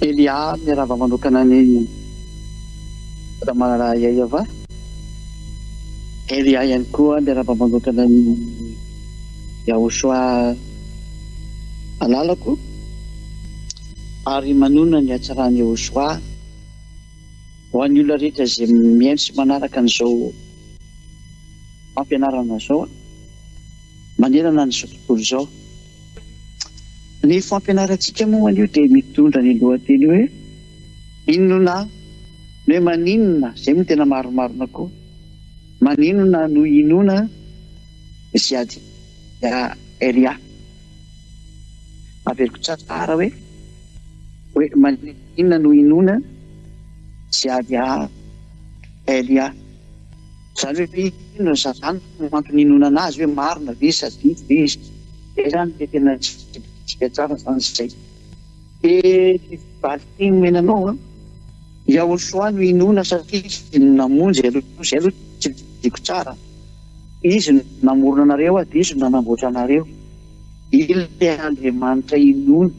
Elia miarahaba manokana an'i Ramalala Yayava. Elia ihany koa miarahaba manokana an'i Yahoshua halalako ary manonona ny hatsaran'i Yahoshua. Ho an'ny olona rehetra izay mihaino sy manaraka an'izao fampianarana izao manerana an'izao tontolo izao. Ny fampianarantsika moa anio dia mitondra ny lohateny hoe Inona no hoe maninona, izay moa no tena marimarina koa. Maninona no hinoana ziady, ya, Elia. Averiko tsara hoe hoe maninona no hinoana Ziadia Elia. Izany hoe inona no zava-nina no antony hinonana azy hoe marina ve sa diso ve izy. Izay izany dia tena tsy bitika tsara izany izay. Dia valin-teny omena anao an, Yahoshua no inoana satria izy no namonjy anareo, izay aloha tsy didiko tsara, izy no namorona anareo ary izy no nanamboatra anareo, ilay Andriamanitra inoana,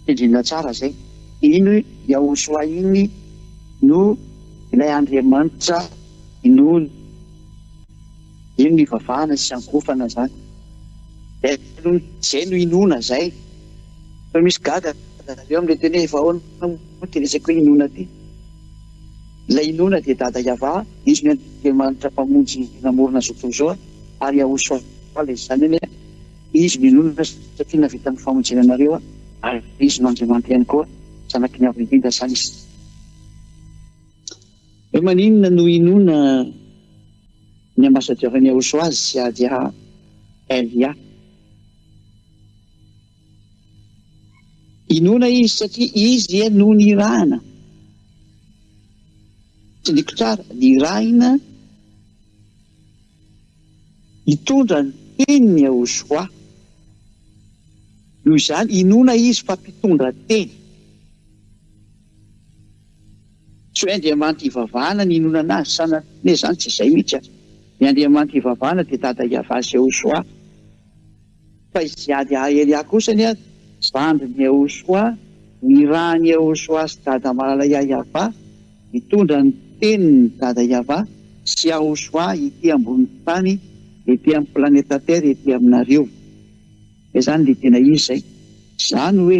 tendrena tsara izay, iny Yahoshua iny no ilay Andriamanitra inoana. Zay no ivavahana sy iankohofana zany Zay no inoana zay Fa misy gaga zareo amle teny hoe efa ahoana moa ty resaka hoe inoana ty Ilay inoana dia Dada Iavah izy no Andriamanitra mpamonjy namorona zao tontolo zao ary Yahushua le zany anie izy no inoana satria navita ny famonjena anareo ary izy no Andriamanitra ihany koa zanaky ny Avo indrindra zany izy. Hoe maninona no inoana ny ambassadeur ny Aosoaz sy Hadia Elia? Inoana izy satria izy no nirahana. Tsindriko tsara, nirahina hitondra ny tenin'ny Aosoa. Noho izany, inoana izy fa mpitondra teny. Tsy hoe Andriamanitra ivavahana no inonana azy sa na hoe izany tsy izay mihitsy an! Ny Andriamanitra ivavahana dia Dada Yavah sy Yehoshuah. Fa izy tsy Ady Ahaeliah kosa anie an! Zandrin'i Yehoshuah, nirahan'i Yehoshuah sy Dada Malalaiah Yavah, mitondra ny teniny Dada Yavah sy Yahoshuah ity ambonin'ny tany, ety amin'ny planeta Terre ety aminareo. Izay izany dia tena izy izay. Izany hoe.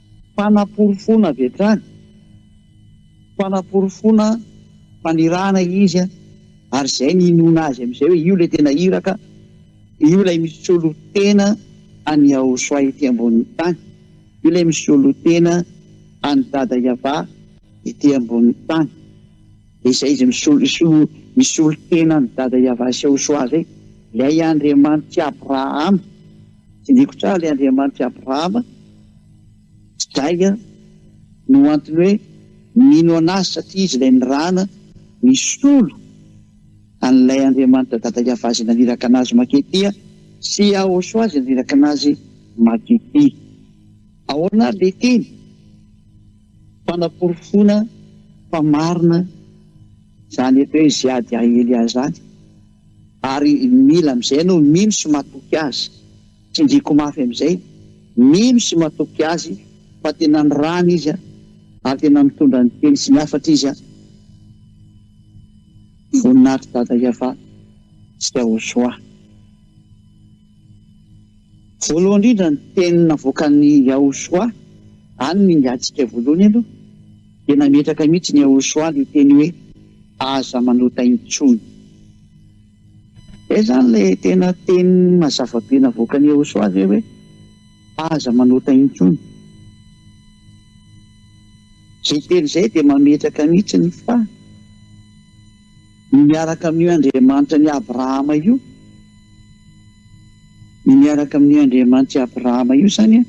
Fanaporofoana avy hatrany, fanaporofoana fanirahana izy ary izay ny inoana azy amin'izay hoe io ilay tena iraka, io ilay misolo tena an'i Yahoshua ety ambonin'ny tany, io ilay misolo tena an'i Dada Yavah ety ambonin'ny tany, dia izay izy misolo misolo tena an'i Dada Yavah sy Yahoshua izay, ilay Andriamanitr'i Abrahama, Tsiniko tra le Andriamanitry Abrahama sy Jaga no antony hoe mino anazy satria izy ilay nirahana nisolo an'ilay Andriamanitra dada Yavazy naniraka anazy mankety dia sy Yahosoazy naniraka anazy makety. Ahoana ary le teny fanaporofoana fa marina zany eto hoe ziady aely aza any? Ary mila amin'izay ianao mino sy matoky Azy. Tsindriako mafy amin'izay, mino sy matoky Azy fa tena nirahana Izy ary tena nitondra ny Teny sy ny hafatra Izy. Voninahitry Dada Yavah sy Yahoshua. Voalohany indrindra ny Teny navoakan'i Yahoshua, any no ingahintsika voalohany aloha. Tena metraka mihitsy ny Yahushua le teny hoe aza manota intsony. Zay zany le tena teny mazava be navoakan'i Yahushua ve hoe aza manota intsony. Zay teny zay dia mametraka mihitsy ny fa. Ny miaraka amin'io Andriamanitra an'i Abrahama io, ny miaraka amin'io Andriamanitry Abrahama io izany an,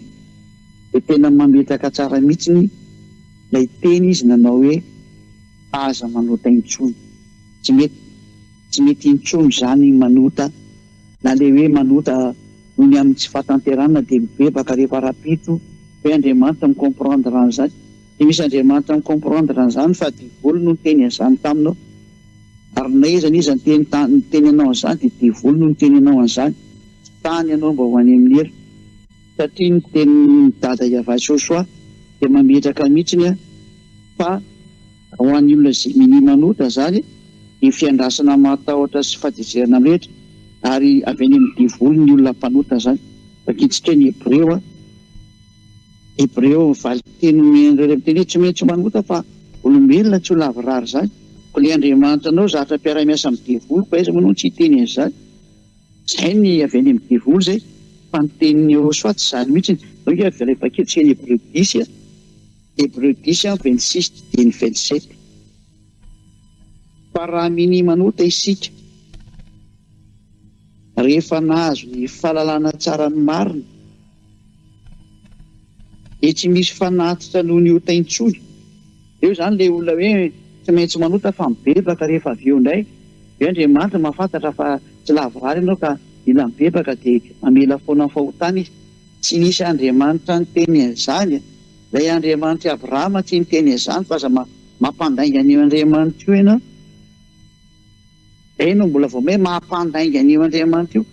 dia tena mametraka tsara mihitsy ny ilay teny izy nanao hoe aza manota intsony. Tsy mety, tsy mety intsony izany ny manota, na ilay hoe manota noho ny amin'ny tsy fahatanterahana dia mibebaka rehefa rahampitso ve Andriamanitra mi-comprendre an'izany? Dia misy Andriamanitra mi comprendre an'izany fa devoly no niteny an'izany taminao. Ary na iza na iza niteny ta, niteny anao an'izany dia devoly no niteny anao an'izany. Tsy tany ianao mba ho any amin'ny helo. Satria ny tenin'i Dada Yavay Sosoa dia mametraka mihitsiny fa ho an'ny olona Gemini manotra izany dia fiandrasana mahatahotra sy fahatezerana mirehitra ary avy any amin'ny devoly ny olona mpanotra izany. Vakitsika ny Hebreo a. Hebreo, ny valin-teny omen'ireo renim-teny hoe tsy maintsy manota fa olombelona tsy ho lavorary izany. Koa ilay Andriamanitra anao zatra mpiara-miasa amin'ny devoly koa aiza moa no tsy hiteny an'izany? Izay ny avy any amin'ny devoly izay fa ny tenin'i Yehosua tsy izany mihitsy. Izao nge avy ilay paik'efitra izay ny Hebreo dix, Hebreo dix amby vingt six didieny vingt sept. Fa raha minia manota isika rehefa nahazo ny fahalalana tsara ny marina, Dia tsy misy fanatitra noho ny ota intsony. Eo izany ilay olona hoe tsy maintsy manota fa mibebaka rehefa avy eo indray dia hoe Andriamanitra mahafantatra fa tsy lavorary ianao ka mila mibebaka dia mamela foana ny fahotana Izy. Tsy nisy Andriamanitra niteny an'izany e! Ilay Andriamanitr'i Abrahama tsy niteny an'izany fa aza mampandainga an'io Andriamanitra io ianao. Izay no mbola vao hoe maha-mpandainga an'io Andriamanitra io.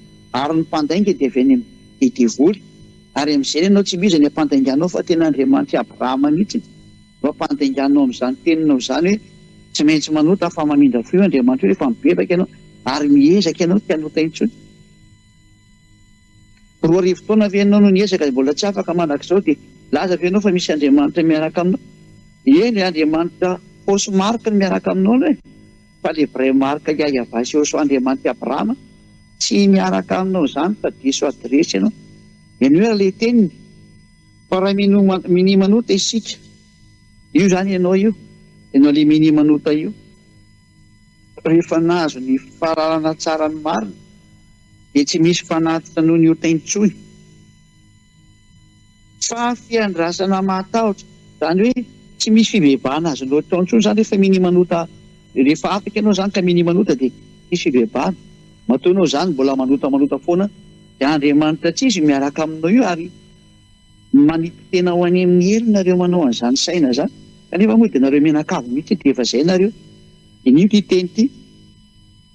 Ary ny mpandainga dia avy any amin'ny devoly. Ary amin'izay ny anao tsy mino izay ny ampandainganao fa tena Andriamanitr'i Abrahama mihitsy no ampandainganao amin'izany teninao izany hoe tsy maintsy manota fa mamindra fo io Andriamanitra io rehefa mibebaka ianao ary miezaka ianao tsy hanota intsony. Roa arivo taona ve ianao no niezaka dia mbola tsy afaka mandrakizao dia milaza ve ianao fa misy Andriamanitra miaraka aminao? Eny e, Andriamanitra fausse marque no miaraka aminao ianao e, fa ilay vraie marque Yahvah sy Yhoshua Andriamanitra i Abrahama tsy miaraka aminao izany fa diso adiresy ianao. Menoy ary ilay teniny fa raha mino minia manota isika io izany ianao io, ianao ilay minia manota io, rehefa nahazo ny fahalalana tsara ny marina, dia tsy misy fanatitra noho ny ota intsony fa fiandrasana mahatahotra, izany hoe tsy misy fibebahana azonao atao intsony izany rehefa minia manota, rehefa afaka ianao izany ka minia manota dia tsy misy fibebahana, matoa ianao izany mbola manota manota foana dia Andriamanitra tsy izy miaraka aminao io ary manipy tena ho any amin'ny helo nareo manao an'izany saina izany kanefa moa dia nareo mianakavy mihitsy dia efa izay nareo, dia ny io ity teny ity.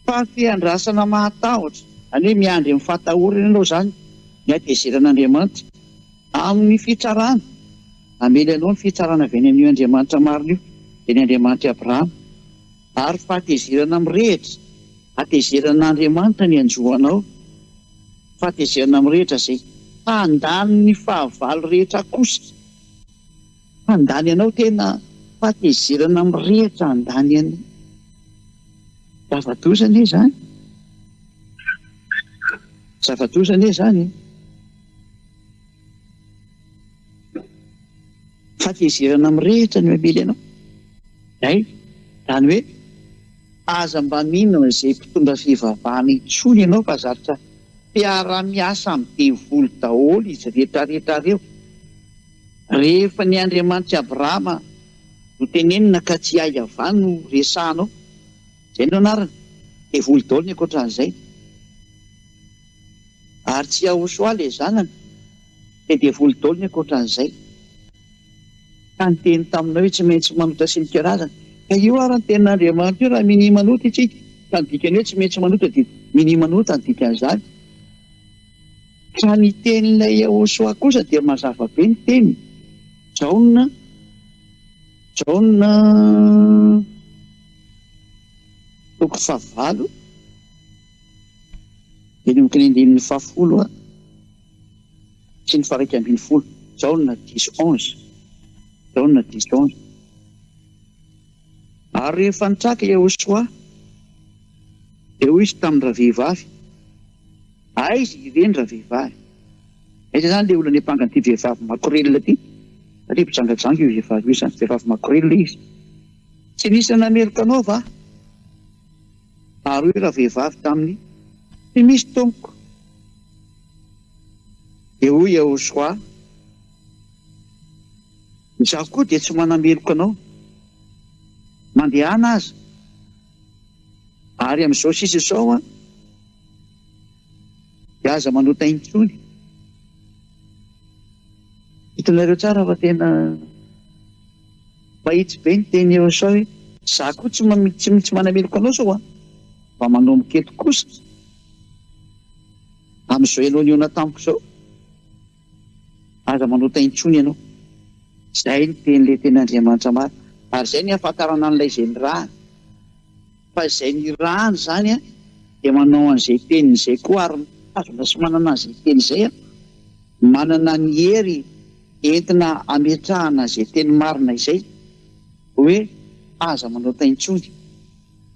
Fahafiandrasana mahatahotra. Zany hoe miandry amin'ny fahatahorana ianao zany ny hatezeran'Andriamanitra amin'ny fitsarana. Namely anao ny fitsarana avy any amin'io Andriamanitra marina io, dia ny Andriamanitr'i Abrahama. Ary fahatezerana mirehitra. Hatezeran'Andriamanitra ny hanjo anao. Fahatezerana mirehitra izay handany ny fahavalo rehetra akosa. Handany anao tena fahatezerana mirehitra handany an'i zava-doza anie izany zava-doza anie izany e! Fahatezerana mirehitra no hamely anao izay izany hoe aza mba mino an'izay mpitondra fivavahana intsony ianao fa zatra mpiara-miasa amin'ny devoly daholo izy rehetra rehetra ireo. Rehefa ny Andriamanitr'i Abrahama no tenenina ka tsy Iahiavah no resahanao, izay no anarany, dia voly daholo ny ankoatran'izay. Ary tsy Iahosoa ilay zanany, dia dia voly daholo ny ankoatran'izay. Ka niteny taminao hoe tsy maintsy manota sy mikarazana. Ka io ary ny tenin'Andriamanitra io raha minia manota isika, ka ny dikany hoe tsy maintsy manota dia minia manota ny dikan'izany. Ka ny tenin'ilay Yehosua kosa dia mazava be ny teniny, Jaona, Jaona toko fahavalo, manomboka ny andininy fahafolo sy ny faha-iraika ambin'ny folo, Jaona dix, onze, Jaona dix, onze. Ary rehefa nitraka Iehosoa, dia hoy izy tamin-dravehivavy, Aiza ireny ravehivavy? Aiza izany ilay olona niampanga an'ity vehivavy makorelina ity? Satria mpijangajanga io vehivavy io, izany vehivavy makorelina izy. Tsy nisy nanameloka anao va? Ary hoy ravehivavy taminy, Tsy misy, tompoko. Dia hoy Iehosoa, Izaho koa dia tsy manameloka anao mandehana aza ary amin'izao sisa izao an dia aza manota intsony. Hitanareo tsara fa tena mahitsy be ny teny eo sao hoe. Izaho koa tsy tsy manameloka anao sao an mba manomboka eto kosa amin'izao ianao nihaona tamiko izao Aza manota intsony ianao. Izay no tenin'ilay tena Andriamanitra marina. Ary izay no ihafantarana an'ilay izay nirahany. Fa izay nirahany izany dia manao an'izay teniny izay koa ary mitazona sy manana an'izay teny izay aho. Manana ny hery entina hametrahana izay teny marina izay. Hoe aza manota intsony.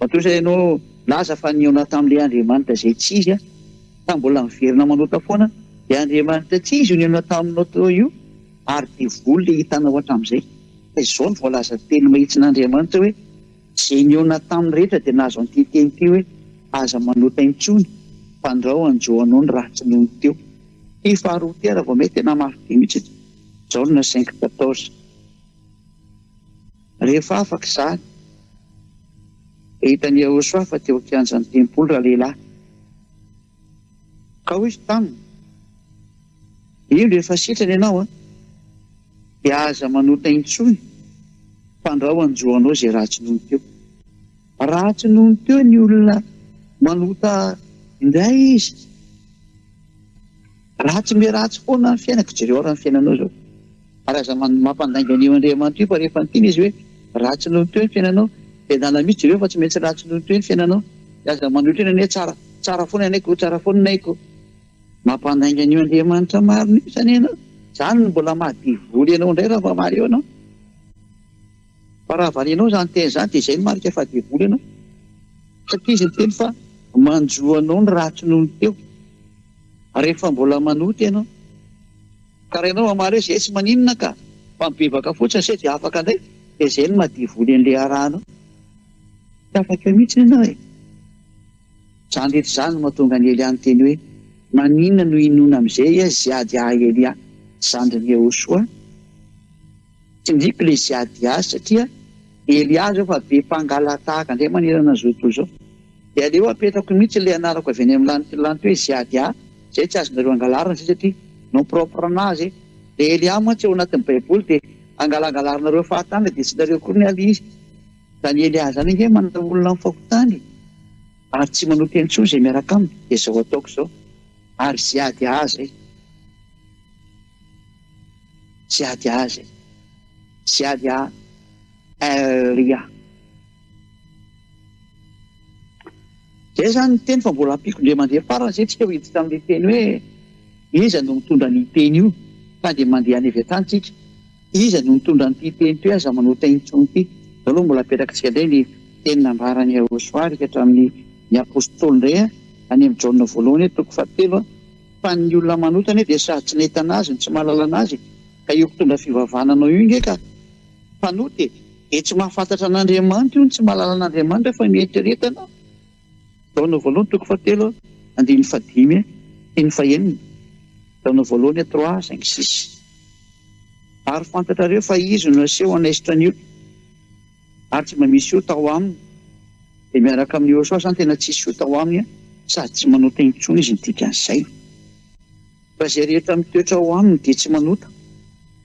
Matoa ianao milaza fa nihaona tamin'ilay Andriamanitra izay tsy izy aho, ka mbola miverina manota foana, io Andriamanitra tsy izy io nihaona taminao teo io, ary devoly ilay hitanao hatramin'izay. Fa izao no voalazan'ny Teny mahitsin'Andriamanitra hoe, Izay nihaona taminy rehetra dia nahazo an'ity teny ity hoe, Aza manota intsony, fandrao hanjo anao ny ratsy nony teo. Ity faharoa ity ary vao may tena mafy be mihitsy. Izao no nasain'i Kitatos. Rehefa afaka izany, dia hitan'i Iehosòa fa teo an-kianjan'ny tempoly ralehilahy. Ka hoy izy taminy, Indro efa sitrana ianao, dia aza manota intsony, fandrao hanjo anao izay ratsy nony teo. Raha tsy nony teo ny olona manota indray izy, ratsy me ratsy foana ny fiainako, jereo ary ny fiainanao izao, ary aza mampandainga an'io Andriamanitra io fa rehefa niteny izy hoe ratsy nony teo ny fiainanao dia anala mihitsy jereo fa tsy maintsy ratsy nony teo ny fiainanao dia aza manohitra eny anie tsara tsara foana ny aiko oh tsara foana ny aiko mampandainga an'io Andriamanitra marina io zany ianao, zany no mbola maha devoly anao indray raha mba mareo ianao. Fa raha valianao izany teny izany dia izay no marika fa devoly ianao. Satria izy niteny fa manjo anao ny ratsy noho ny teo. Ary rehefa mbola manota ianao. Ka raha ianao mamaly hoe izay tsy maninona ka, fa mibebaka fotsiny izay dia afaka indray, dia izay no maha devoly an'ilay iarahanao. Tsy afaka eo mihitsy ianao e. Izany rehetra izany no mahatonga an'i Elia niteny hoe, Maninona no hinoana amin'izay izy hiady ahy Elia zandrin'i Iehosoa? Tsindriko le ziady azy satria hery azy aho fa be mpangalatahaka ndray manerana zao tontolo zao. De aleo apetrako mitsy le anarako avy any am lantilanty hoe ziady ahy zay tsy azonareo angalarina zay satria nom propre anazy e. Le hery ahy mantsy ao anatin'ny baiboly de angalangalarinareo fahatany de tsy nareo koa ny alia izy. Zany hery ahy zany ange manana olona am fahotany ary tsy manota intsony zay miaraka aminy de zao ataoko zao ary ziady ahy zay. Tsy ady azy e! Tsy ady a Ry a! Zay zany ny teny fa mbola ampiko ndre mandeha farany zay tsika ho iditra amle teny hoe iza no mitondra anio teny io fa dia mandeha any avy atany tsika iza no mitondra anty teny toy aza manota intsony ty zao aloha mbola apetrakitsika ndray ny teny nambarany Yahosoa rika hatramin'ny ny apostoly ndray a any am Jaona voalohany toko fahatelo a Fa ny olona manota anie dia sady tsy nahita anazy no tsy mahalala anazy e! Ka io mpitondra fivavahana anao io nge ka mpanota e! Dia tsy mahafantatra an'Andriamanitra io no tsy mahalala an'Andriamanitra fa mieritrereta anao! Jaona voalohany toko fahatelo andininy fahadimy sy ny fahenina Jaona voalohany trois cinq six Ary fantatrareo fa izy no naseho hanaisotra ny olona. ary tsy mba misy ota ao aminy dia miaraka amin'i Yehosua zany tena tsisy ota ao aminy sady tsy manota intsony izy ny dikan'izay fa izay rehetra mitoetra ao aminy dia tsy manota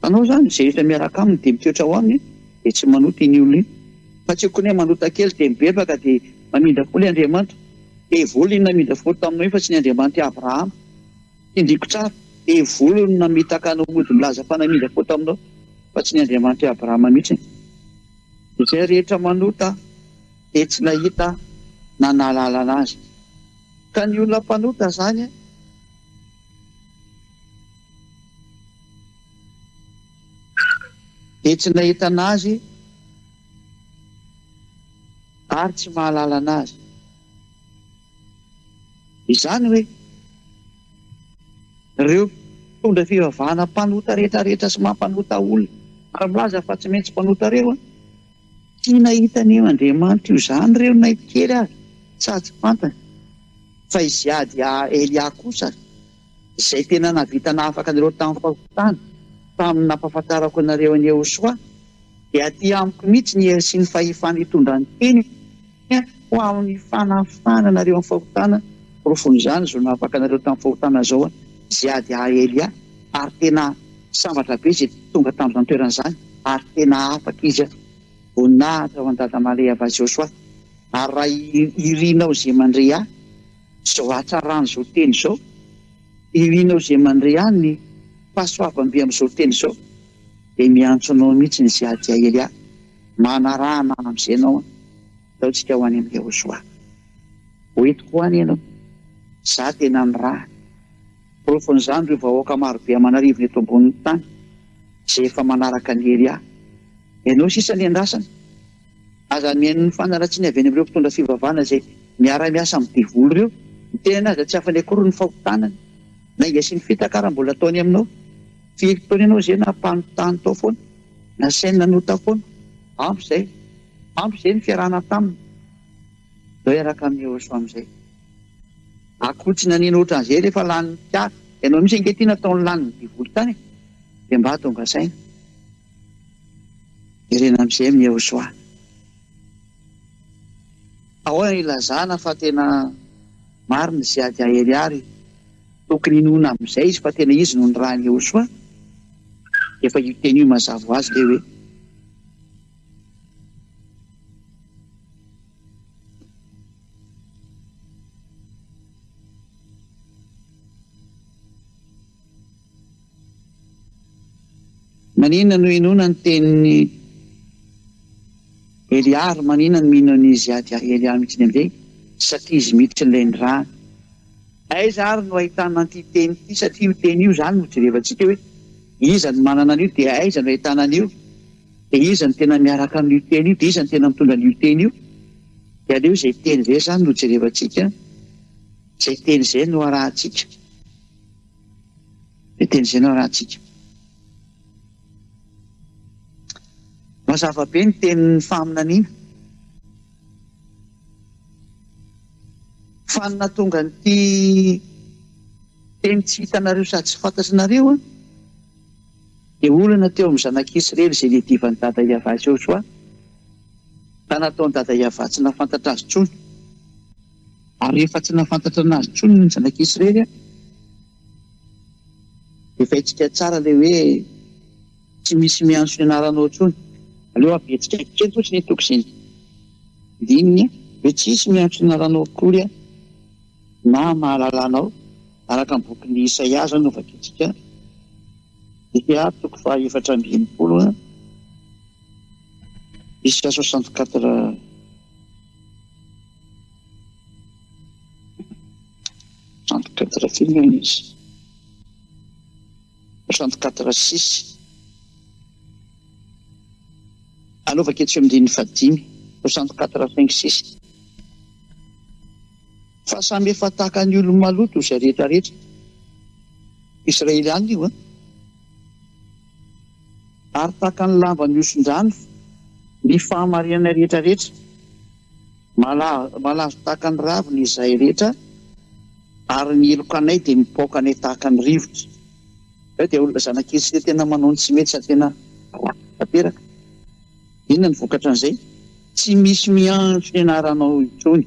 fanao zany izay rehetra miaraka aminy dia mitoetra ao aminy dia tsy manota iny olona iny fa tsy okony manota kely dia mibebaka dia mamindra fo le Andriamanitra dia volina namindra fo taminao iny fa tsy ny Andriamanitra Abrahama Tindriko tsara, devoly no namitaka anao mody milaza fa namindra fo taminao, fa tsy ny Andriamanitr'i Abrahama mihitsy. Izay rehetra manota dia tsy nahita na nahalala anazy, ka ny olona mpanota izany. Dia tsy nahita anazy ary tsy mahalala anazy. Izany hoe, ireo mpitondra fivavahana mpanota retraretra sy mampanota olona ary milaza fa tsy maintsy mpanota ireo, tsy nahita ny Andriamanitra io izany ireo na kely aza, sady fantany fa izy hiady Elia kosa. Izay tena nahavita nahafaka anareo tamin'ny fahotana, tamin'ny nampahafantarako anareo an'i Yehosoa, dia aty amiko mihitsy ny hery sy ny fahefana hitondra ny teniko ho amin'ny fanafahana anareo amin'ny fahotana, porofon'izany izao nahafaka anareo tamin'ny fahotana izao aho, izay ady ahy Elia, ary tena sambatra be izay tonga tamin'izany toerana izany, ary tena afaka izy aho. Voninahitra ho an'i Dada Male Yavazyosoa, ary raha irinao izay mandre ahy, Izao hatsaran' izao teny izao. Ilianao izay mandre any ny fahasoavam-be amin' izao teny izao, dia miantso anao mihitsy ny Zeadiaely ahy, manarahana amin' izay anao an! Ataontsika ho any amin' i Iehosoa. Ho entiko ho any ianao. Izaho tena nirahany. Porofon' izany ireo vahoaka maro be aman'arivony eto ambonin' ny tany, izay efa manaraka an' i Elia. Ianao sisa ny andrasana. Aza mihaino ny fanaratsiana avy any amin'ireo mpitondra fivavahana izay miara-miasa amin'ny devoly ireo. Ny tenany aza tsy afany akory ny fahotanany. Lainga sy ny fitaka raha mbola ataony aminao. Firy taona ianao izay nampano tany tao foana? Nasainy nanota foana? Ampy izay. Ampy izay ny fiarahana taminy. Andao hiaraka amin'i Yehosua amin'izay. Akoho tsy naneno ohatran'izay rehefa lanin'ny mpiara. Ianao mihitsy ange ity nataony lanin'ny devoly tany e. Dia mba tonga saina. Jerena amin'izay amin'i Yehosoa. Ahoana no ilazana fa tena marina izay ady hahery àry? Tokony hinoana amin'izay izy fa tena izy no nirahin'i Yehosoa. Efa io teny io mazava ho azy ilay hoe Maninona no hinoana ny tenin'i Elia ary maninona no mino an'izy ady ahy Elia mihitsy indray satria izy mihitsy ilay nirahana? Aiza ary no ahitana an'ity teny ity satria io teny io izany no jerevantsika hoe iza no manana an'io dia aiza no ahitana an'io dia iza no tena miaraka amin'io teny io dia iza no tena mitondra an'io teny io dia aleo izay teny izay izany no jerevantsika izay teny izay no arahantsika. Teny izay no arahantsika. Mazava be ny tenin'ny faminaniana. Fa ny nahatonga an'ity teny tsy hitanareo sady tsy fantatrinareo dia olana teo amin'ny zanak'Israely izay niadivan'i Dada Iavah Josoa, ka nataon'i Dada Iavah tsy nahafantatra azy intsony. Ary rehefa tsy nahafantatra anazy tsony ny zanak'i Israely aho, dia fahintsika tsara ilay hoe tsy misy miantso ny anaranao tsony. Aleo habetsaka kely fotsiny hitako izay dininy an! Hoe tsy hisy miantso ny anaranao akory aho na mahalala anao, araka ny bokin'i Isaia izao no vakintsika, Isaia toko fahaefatra amby enimpolo, Isaia soixante quatre. Trente quatre fil hono izy. Trente quatre six. Aleo vakio tsy eo amin'ny andininy fahadimy. Soixante quatre cinq six. Fa samy efa tahaka ny olo-maloto izay rehetrarehetra. Israeliana io an! Ary tahaka ny lamba mihoson-drano ny fahamarinanay rehetra rehetra, malazo tahaka ny ravina izahay rehetra, ary ny heloka anay dia mipaoka anay tahaka ny rivotra. Izahay dia olona zanakely sy dia tena manao ny tsy mety sady tena ratsy tanteraka. Inona ny vokatra an'izay? Tsy misy miantso ny anaranao intsony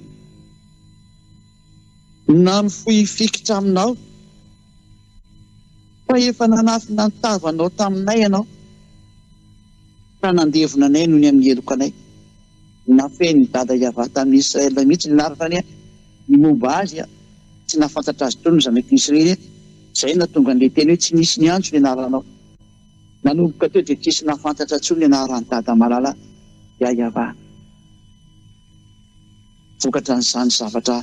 na mifoy fikitra aminao. Fa efa nanafina ny tavanao taminay ianao, ka nandevona anay noho ny amin'ny heloka anay. Nafehin'i dada Yavah tamin'i Israël mihitsy ny anarany ny momba azy, tsy nahafantatra azy intsony ny zanak'i Israël, izay no nahatonga an'ilay teny hoe tsy nisy niantso ny anaranao. Nanomboka teo dia tsy nisy nahafantatra intsony ny anaran'i dada malala, Yayavah. Vokatra an'izany zavatra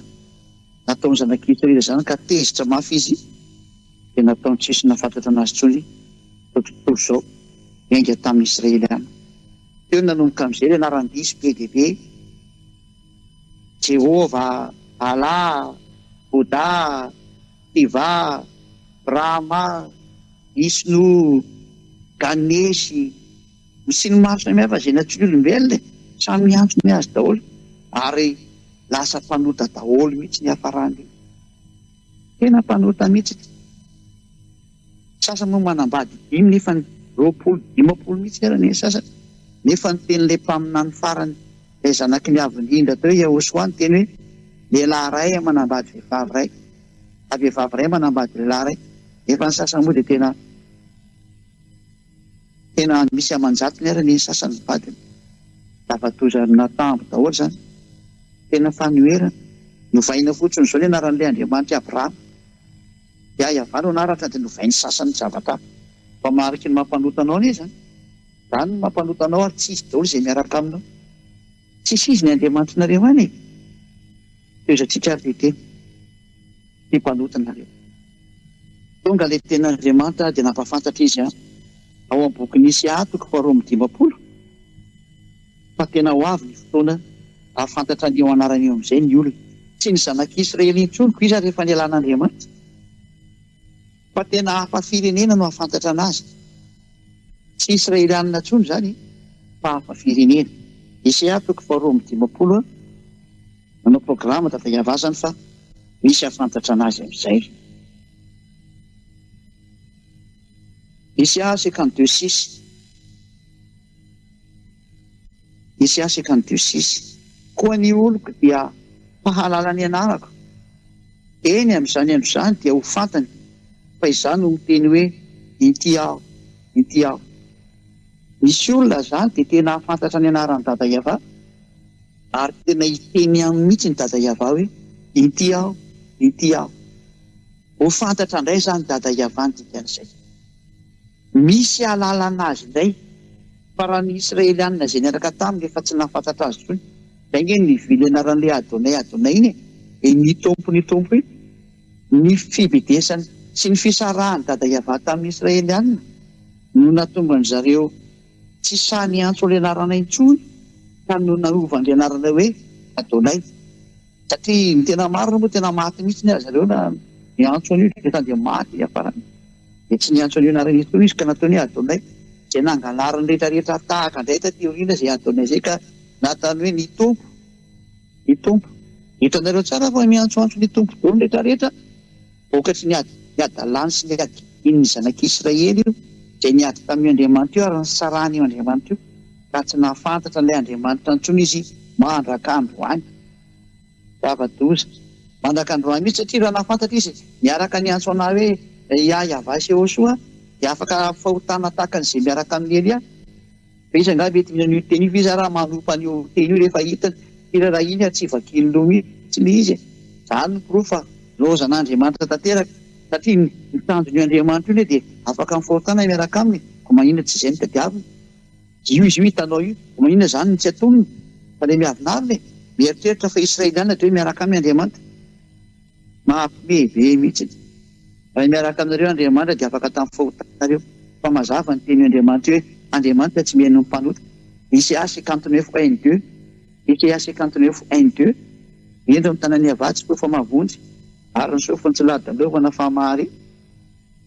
nataon'i zanak'i Israely izany ka tezitra mafy izy dia nataony tsy nisy nahafantratra anazy intsony izao tontolo izao niainga tamin'ny Israeliana. Teo no nanomboka mijery anaram-diso be dia be, Jehovah, Allah, Bouddha, Shiva, Brahma, Vishnu, Ganesh, Ny siny maro samihafa izay natian'olombelona e! Samy miantso ny azy daholo ary lasa mpanota daholo mihitsy ny hiafarany. Tena mpanota mihitsy ity. Ny sasany moa manambady dimy nefa ny roapolo, dimampolo mihitsy aza ny sasany. Nefa ny tenin'ilay mpaminany farany, ilay zanaky ny Avo indrindra teo Yahoshuah niteny hoe, Lehilahy iray manambady vehivavy iray, na vehivavy iray manambady lehilahy iray. Nefa ny sasany moa dia tena. Tena misy aman-jatony ary anie ny sasany ny vadiny. Lava-doza ary natambo daholo izany. Tena fanoherana. Novaina fotsiny izao ny anaran'ilay Andriamanitra i Abrahama. Yahyavah no anaratra dia novain'ny sasany Javatah. Fa mariky ny maha mpanota anao anie izany. Izany no maha mpanota anao ary tsy izy daholo izay miaraka aminao. Tsisy izy ny Andriamanitrinareo any e! Toezatsika ary ve tena tia mpanota nareo? Tonga ilay tena Andriamanitra dia nampahafantatra izy ahy ao amin'ny boky Nisy ahy toko faharoa amby dimampolo fa tena ho avy ny fotoana hahafantatra an'io anarana io amin'izay ny olona. Tsy ny zanak'Israely intsony koa iza rehefa nialan'Andriamanitra. Fa tena hafa firenena no hahafantatra anazy. Tsy Israelianina intsony izany fa hafa firenena. Esea toko faharoa amby dimampolo nanao programa tato Iavazany fa misy hahafantatra anazy amin'izay. Esea cinquante deux six. Hisy ahy sy ekan'ny diosisy. Koa ny oloko dia hahalala ny anarako. Eny, amin'izany andro izany dia ho fantany fa izaho no miteny hoe, Inty aho, inty aho. Misy olona izany dia tena hahafantatra ny anaran'i Dada Yavah, ary tena hiteny aminy mihitsy ny Dada Yavah hoe, Inty aho, inty aho. Ho fantatra indray izany Dada Yavah ny dikan'izay. Misy alalana azy indray. Fa raha ny Israelianina izay niaraka taminy efa tsy nahafantatra azy intsony, izay ange ny vy nianaran'ilay Adonai Adonai iny e, e, ny Tompo ny Tompo iny. Ny fibedesany sy ny fisarahan'i Dada Iavah tamin'ny Israelianina no nahatonga an-dry zareo tsy sahy niantso ilay anarana intsony ka no nanovany ilay anarana hoe Adonai. Satria ny tena marina moa tena maty mihitsy ny azy ireo na niantso an'io Jonathan dia maty hiafarany dia tsy niantso an'io anarana io intsony izy ka nataony hoe Adonay izay nangalariny rehetra rehetra tahaka indray taty aoriana izay Adonay izay ka natany hoe ny Tompo ny Tompo hitanareo tsara fa miantsoantso ny Tompo dolo rehetra rehetra Vokatry ny ady hadalany sy ny hadian' ny Zanak' Israely io dia niady tamin' io andriamanitra io ary nisarahana io andriamanitra io, raha tsy nahafantatra an' ilay Andriamanitra intsony izy mandraka androany. Zava-doza mandraka androany mihitsy, satria raha nahafantatra izy miaraka niantso an' ahy hoe, Ry ahy Iaveh Sehosoa, dia afaka hahafahotana tahaka an' izay miaraka amin' i Elia. Fa iza angaha mety mihaino io teny io? Fa iza raha manompa an'io teny io rehefa hitany? Firarahiany ary tsy vakiany loha mihitsy ilay izy e! Izany no porofo fa nilaozan'Andriamanitra tanteraka, satria ny ny tanjon'io Andriamanitra io anie dia afaka mifahotana miaraka aminy e! Koa maninona tsy izay no tadiaviny? Io izy io hitanao io, koa maninona izany no tsy atonony? Fa ilay miavonavona e! Mieritreritra fa Israeliana dia hoe miaraka aminy Andriamanitra. Mampimehivey mihitsy ity. Raha miaraka aminareo Andriamanitra dia afaka tamin'ny fahotanareo. Fa mazava ny teny Andriamanitra hoe Andriamanitra tsy mihaino ny mpanota. JCA 59 un et deux JCA 59 un et deux Hendry mitana ny havatsy koa fa mavonjy, ary ny sofiny tsy ladalovana fa mahare.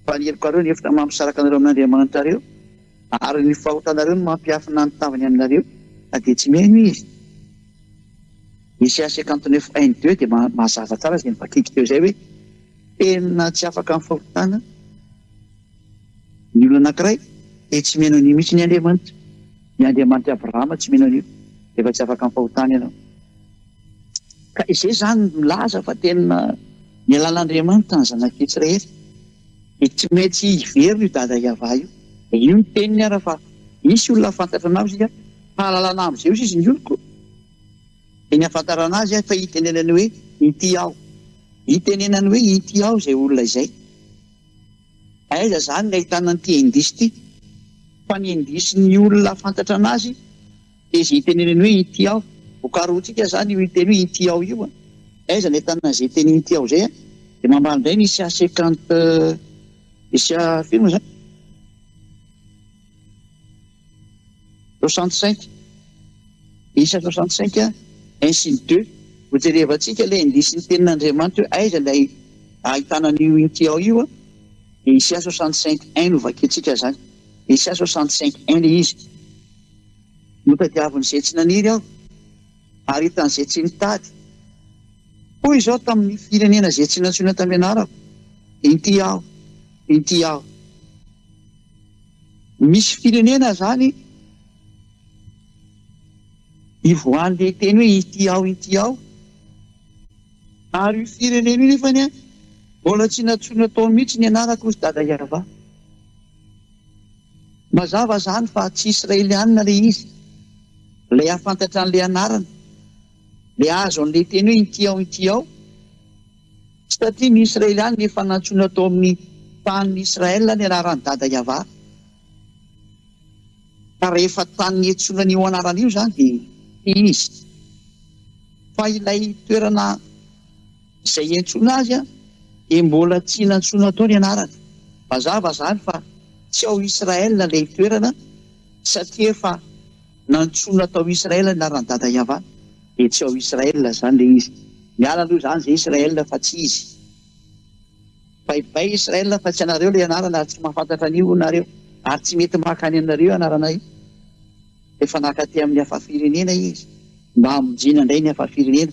Fa ny helokareo no efitra mampisaraka anareo amin'Andriamanitrareo, ary ny fahotanareo no mampiafina ny tavany aminareo, na dia tsy mihaino Izy. Ny CA cinquante neuf un et deux dia mazava tsara izay novakiako teo izay hoe tena tsy afaka amin'ny fahotana ny olona anankiray dia tsy mino an'io mihitsy ny Andriamanitra. Ny Andriamanitr'i Abrahama tsy mino an'io rehefa tsy afaka amin'ny fahotana ianao. Ka izay izany milaza fa tena nialana Andriamanitra ny zanak'i Israely. Dia tsy maintsy hiverina io dada Yavah io. Dia io ny teniny ara fa misy olona hahafantatra anao izay ka hahalalana amin'izay osa izy ny oloko. Teny ahafantarana azy aho fa hitenenany hoe ity aho. Hitenenany hoe ity aho izay olona izay. Aiza izany no ahitana an'ity indice ity? Fa ny indice-n'ny olona ahafantatra an'azy dia izay hitenenany hoe ity aho. Vokaroantsika izany io hiteny hoe ity aho io. Aiza no ahitana an'izay teny ity aho izay? Dia mamaly indray ny isia secant isia firma izany. Soixante-cinq, isa soixante-cinq ainsi de deux, ho jerevantsika ilay indisin'ny tenin'Andriamanitra hoe aiza ilay ahitana an'io inty ao io, dia isa soixante-cinq un no vakintsika izany, isa soixante-cinq un ilay izy, notadiavin'izay tsy naniry aho, ary hitan'izay tsy nitady, hoy Izaho tamin'ny firenena izay tsy nantsoina tamin'ny anarako, inty aho, inty aho. Misy firenena zany ivoahan'le hiteny hoe ity ao ity ao ary io firenena io nefany a mbola tsy natsoina tao mihitsy ny anarako hozy dada Yava. Mazava zany fa tsy Israelianina le izy ilay afantatra an'le anarana le azo an'le teny hoe ity ao ity ao Tsy tatia ny Israely any efa nantsoina tao amin'ny tanin'i Israel ny anaran'i Dada Yavah. Ka rehefa tany niantsoina an'io anarana io izany dia tia izy. Fa ilay toerana izay iantsoana azy dia mbola tsy nantsoina tao ny anarany. Mazava izany fa tsy ao Israel ilay toerana satria efa. Nantsoina tao Israël ny anaran'i Dada Yava dia tsy ao Israël izany ilay izy. Miala aloha izany izay Israël fa tsy izy. Bye bye Israël fa tsy anareo ilay anarana ary tsy mahafantatra an'io nareo ary tsy mety maka any aminareo io anarana io. Efa naka aty amin'ny hafa firenena izy mba hamonjena indray ny hafa firenena.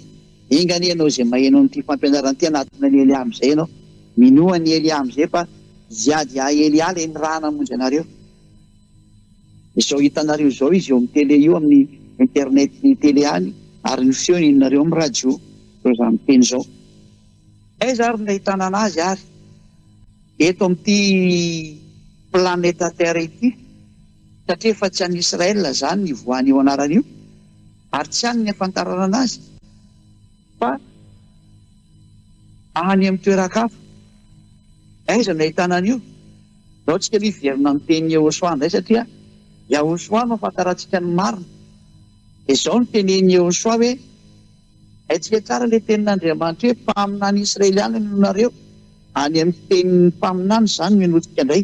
Enga anie ianao izay maheno an'ity fampianarana ity hanatona an'i Eliah amin'izay ianao. Minoa an'i Eliah amin'izay fa hiady ahy Eliah ilay niraha namonjy anareo. Izao hitanareo izao izy eo amin'ny tele io amin'ny internet ny tele any ary ny feo henonareo amin'ny radio izao zany miteny izao. Aiza ary no ahitana anazy ary? Eto amin'ity planeta terre ity satria efa tsy an'i Israel izany voanio anarana io ary tsy any ny ahafantarana anazy. Fa any amin'ny toeran-kafa, aiza no ahitana an'io? Izao tsika aloha hiverina amin'ny teny Yehosua indray satria Yahosua no ahafantarantsika ny marina. Dia izao no tenenin'i Yehosua hoe, Haintsika tsara ilay tenin'Andriamanitra hoe, Mpaminany Israeliana no nareo. Any amin'ny tenin'ny mpaminany izany no henointsika indray.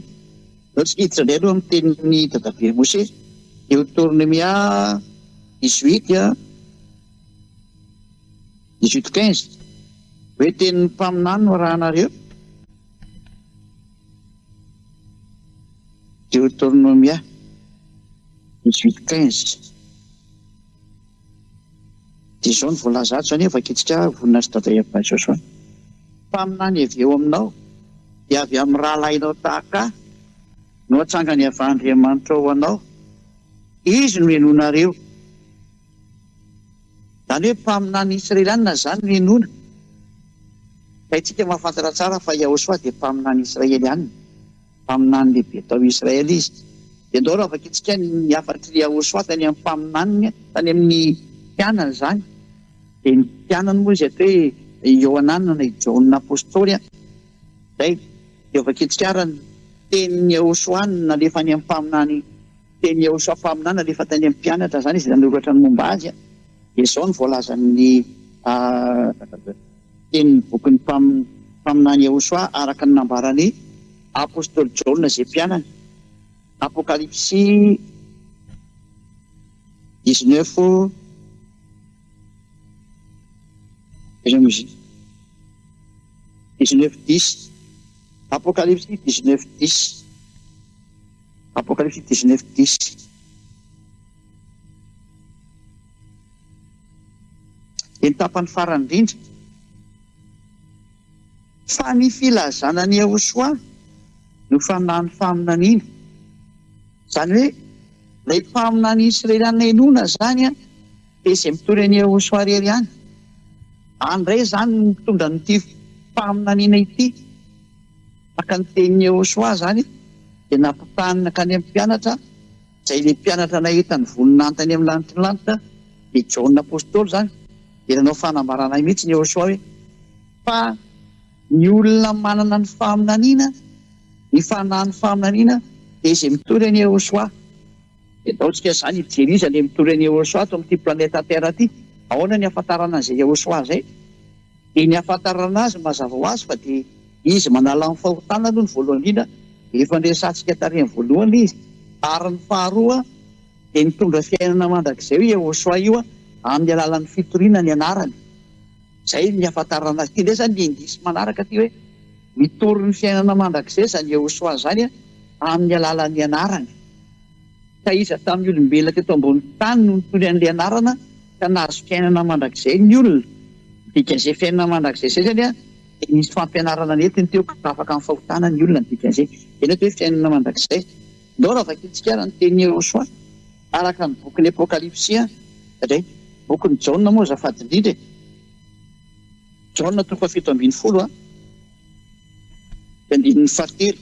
Izao tsika hiditra indray aloha amin'ny tenin'i dadabe Mosesy, Deotornomia dix-huit, Dix-huit quinze, Hoe tenin'ny mpaminany no arahanareo? Deoteronomia dix-huit quinze, dia izao no voalaza ato, izany hoe vakintsika vonona sy dada Eva Joshua, Mpaminany avy eo aminao, dia avy amin'ny rahalahinao tahaka ahy no atsangany avy Andriamanitra ho anao, Izy no henoinareo. Izany hoe mpaminany Israeliana izany no henoina. Ka isika mahafantatra tsara fa Yahoshua dia mpaminany Israeliana, mpaminany lehibe tao Israely izy. Dia ndao raha vakintsika ny hafatr'i Yahoshua tany amin'ny mpaminaniny, tany amin'ny mpianany izany. Dia ny mpianany moa izy ato hoe i Yohanana na i Jaona apostoly an. Izay. Dia vakintsika ara ny tenin'i Yahoshua nalefany amin'ny mpaminany Teny Iehosua mpaminany alefa tany amin'ny mpianatra izany izy nanoratra ny momba azy. Dia izao no voalazan'ny tenin'ny bokin'ny mpaminany Iehosua araka ny nambaran'ny apostoly Jaona izay mpianany, Apokalypsy dix-neuf dix-neuf dix, Apokalypsy dix-neuf dix. Apocalypse dix neuf dix dia ny tapany farany indrindra fa ny filazana an'i Yahoshuah no fanahin'ny faminaniana. Izany hoe ilay mpaminany israelianina inoana izany dia izay mitory an'i Yahoshuah irery ihany. Any indray izany no mitondra an'ity faminaniana ity. Naka ny tenin'i Yehosua izany izy, dia nampitahaniny nankany amin'ny mpianatra, izay ilay mpianatra nahita ny voninahiny tany amin'ny lanitry ny lanitra, dia Jaona Apostoly izany. Dia nanao fanambarana ahy mihitsy i Yehosua hoe, Fa ny olona manana ny faminaniana, ny fanahin'ny faminaniana, dia izay mitory an'i Yehosua. Dia ataontsika izany hijery iza ilay mitory an'i Yehosua ato amin'ity planeta Terra ity. Ahoana ny hahafantarana an'izay Yehosua izay? Dia ny ahafantarana azy mazava ho azy fa dia izy manala ny fahotana aloha ny voalohany indrindra, efa niresahantsika tarehin'ny voalohany izy, ary ny faharoa dia nitondra fiainana mandrakizay io Yehosua io amin'ny alalan'ny fitoriana ny anarany. Izay ny ahafantarana azy. Ity indray izany ny indisy manaraka ity hoe mitory ny fiainana mandrakizay izany Yehosua izany amin'ny alalan'ny anarany. Taiza tamin'ny olombelona teto ambonin'ny tany no nitory an'ilay anarana ka nahazo fiainana mandrakizay ny olona? Dikazay fiainana mandrakizay izay izany dia nisy fampianarana nentiny teo ka afaka amin'ny fahotana ny olona ny dikazay. Izay no atao hoe fiainana mandrakizay. Ndao raha vakintsika ary ny tenin'i Yehosua araka ny bokin'ny Apokalypsy indray. Bokin'i Jaona moa azafady indrindra e. Jaona toko fahafito ambin'ny folo, andininy fahatelo.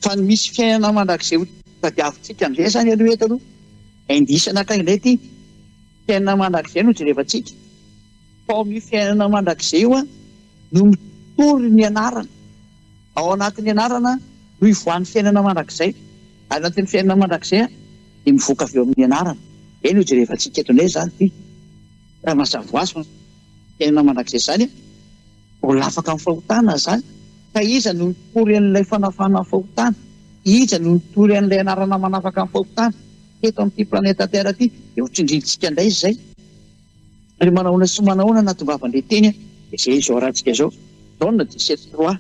Fa ny misy fiainana mandrakizay ho tadiavintsika amin'izay izany aloha eto aloha, indice anankiray indray ity, fiainana mandrakizay no jerevantsika, fa ao amin'io fiainana mandrakizay io no mitory ny anarana, ao anatin'ny anarana no ivoahan'ny fiainana mandrakizay, ary anatin'ny fiainana mandrakizay dia mivoaka avy eo amin'ny anarana. Izay no jerevantsika eto indray izany ity, raha mazava ho azy fa fiainana mandrakizay izany e! Mbola afaka amin'ny fahotana izany. Ka iza no nitory an'ilay fanafahana ny fahotana? Iza no nitory an'ilay anarana manafaka ny fahotana teto amin'ity planeta Terre ity? Dia ho tsindrintsika indray izay. Ary manahoana sy manahoana no nahatongavan'ilay teny dia izay izao arahantsika izao, John dix-sept trois.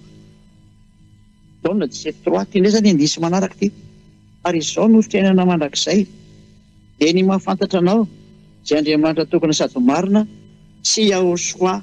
John dix-sept trois. Ity indray izany indisy manaraka ity. Ary izao no fiainana mandrakizay, dia ny mahafantatra Anao, izay Andriamanitra tokana sady marina, sy Yahoshua,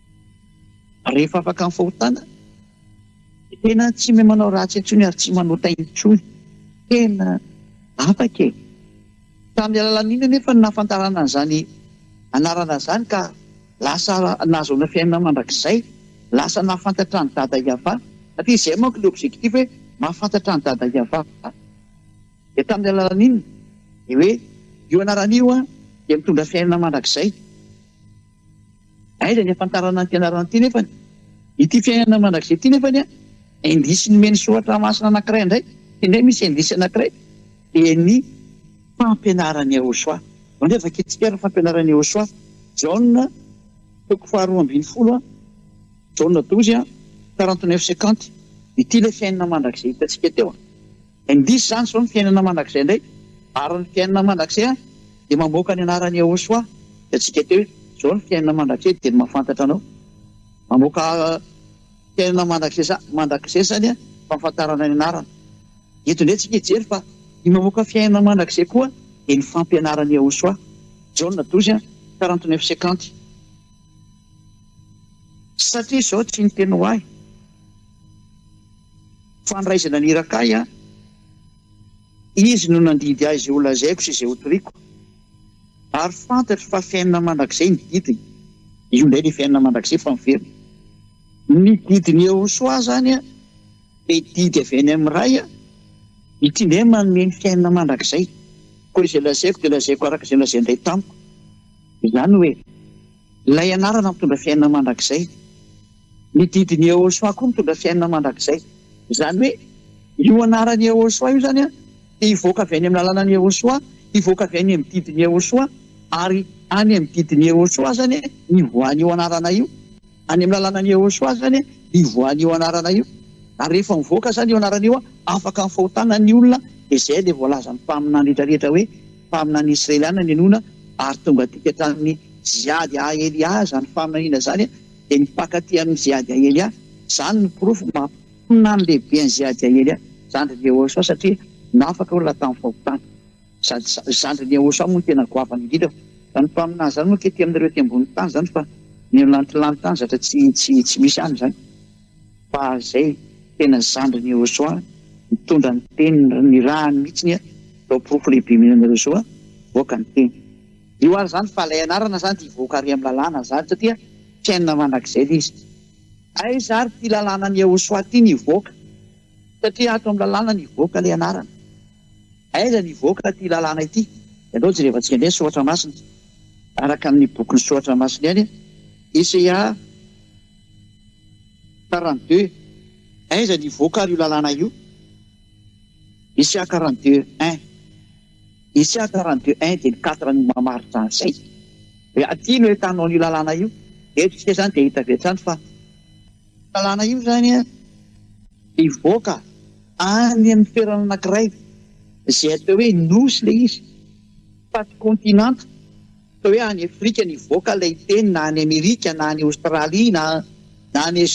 Rehefa afaka ny fahotana dia tena tsy mia manao ratsy intsony ary tsy manota intsony. Tena afaka e! Tamin'ny alalan'inona anefa no nahafantarana an'izany anarana izany ka lasa nahazoana fiainana mandrakizay? Lasa nahafantatra an'i Dada Yavah. Satria izay manko ilay objectif hoe mahafantatra an'i Dada Yavah. Dia tamin'ny alalan'inona? Dia hoe io anarana io dia mitondra fiainana mandrakizay. Aiza ny ahafantarana ny fianarana ity nefany? Ity fiainana mandrakizay ity nefany an! Indisy nomen'ny soratra masina anankiray indray, indray misy indisy anankiray dia ny fampianaran'i Yehosua. Mandeha vakintsika ary ny fampianaran'i Yehosua, Jaona toko faharoa ambin'ny folo an, Jaona dozy an, quarante neuf cinquante. Ity ilay fiainana mandrakizay hitantsika teo an. Indrisy izany izao ny fiainana mandrakizay indray ary ny fiainana mandrakizay dia mamoaka ny anaran'i Yehosua hitantsika teo izao ny fiainana mandrakizay dia ny mahafantatra anao mamoaka fiainana mandrakizay mandrakizay izany a fahafantarana ny anarana eto indray tsika hijery fa ny mamoaka fiainana mandrakizay koa dia ny fampianaran'i Yehosua Jaona dozy a 49 50 satria izao tsy ny teny ho ahy Fandraisana ny iraka ahy an! Izy no nandidy ahy izay holazaiko sy izay hotoriako. Ary fantatro fa fiainana mandrakizay ny didiny. Io indray ilay fiainana mandrakizay fa miverina. Ny didin'i Yehosua izany an, dia didy avy any amin'ny Ray an! Ity indray manome ny fiainana mandrakizay. Koa izay lazaiko dia lazaiko araka izay nolazain'ny Ray tamiko. Izany hoe, Ilay anarana mitondra fiainana mandrakizay. Ny didin'i Yehosua koa mitondra fiainana mandrakizay. Izany hoe, io anaran'i Yehosua io izany dia hivoaka avy any amin'ny lalànan'i Yehosua, hivoaka avy any amin'ny didin'i Yehosua, ary any amin'ny didin'i Yehosua izany ny voan'io anarana io. Any amin'ny lalànan'i Yehosua izany ny voan'io anarana io. Ary rehefa mivoaka izany io anarana io, afaka ny fahotana ny olona, dia izay ilay voalazan'ny mpaminany rehetra rehetra hoe, Mpaminany Israeliana ninoana ary tonga dinika hatramin'ny Jihad Aelia izany faminaniana izany dia mifankatia amin'ny Jihad Aelia, izany no porofo maha mpaminany lehibe an'i Jihad Aelia zandrin'i Yehosua satria nafaka olona tamin'ny fahotana. Sady zandrin'i Yehosua moa no tena goavana indrindra fa izany mpaminany izany moa akia aty aminareo aty ambony tany izany fa ny lantilanty any zatra tsy tsy misy any izany. Fa zay tena zandriny Iehosoa nitondra ny teny nirahany mihitsiny a! Zao porofo lehibe mihitsy anareo zao a! Mivoaka ny teny. Io ary zany fa lay anarana zany dia hivoaka ary am lalàna zany satria fiainana mandrakizay lay izy. Aiza ary ty lalànan Iehosoa ty ny hivoaka satria ato am lalàna ny hivoaka lay anarana. Aiza ny hivoaka ty lalàna ity? Ianao jerevantsika indray ny soratra masina araka ny bokin'ny soratra masina ihany a! Eseia a! Karan de, aiza ny hivoaka ary io lalàna io? Isia karan de un, isia karan de un dia ny quatre no mamaritra an'izay. Hoe aty no ahitanao an'io lalàna io, eto isika izany dia hita avy hatrany fa io lalàna io izany dia hivoaka any amin'ny toerana anankiray izay atao hoe nosy ilay izy, fa tsy kaontinanta. Ohatra hoe any Afrika nivoaka ilay teny na any Amerika na any Aostralia na na any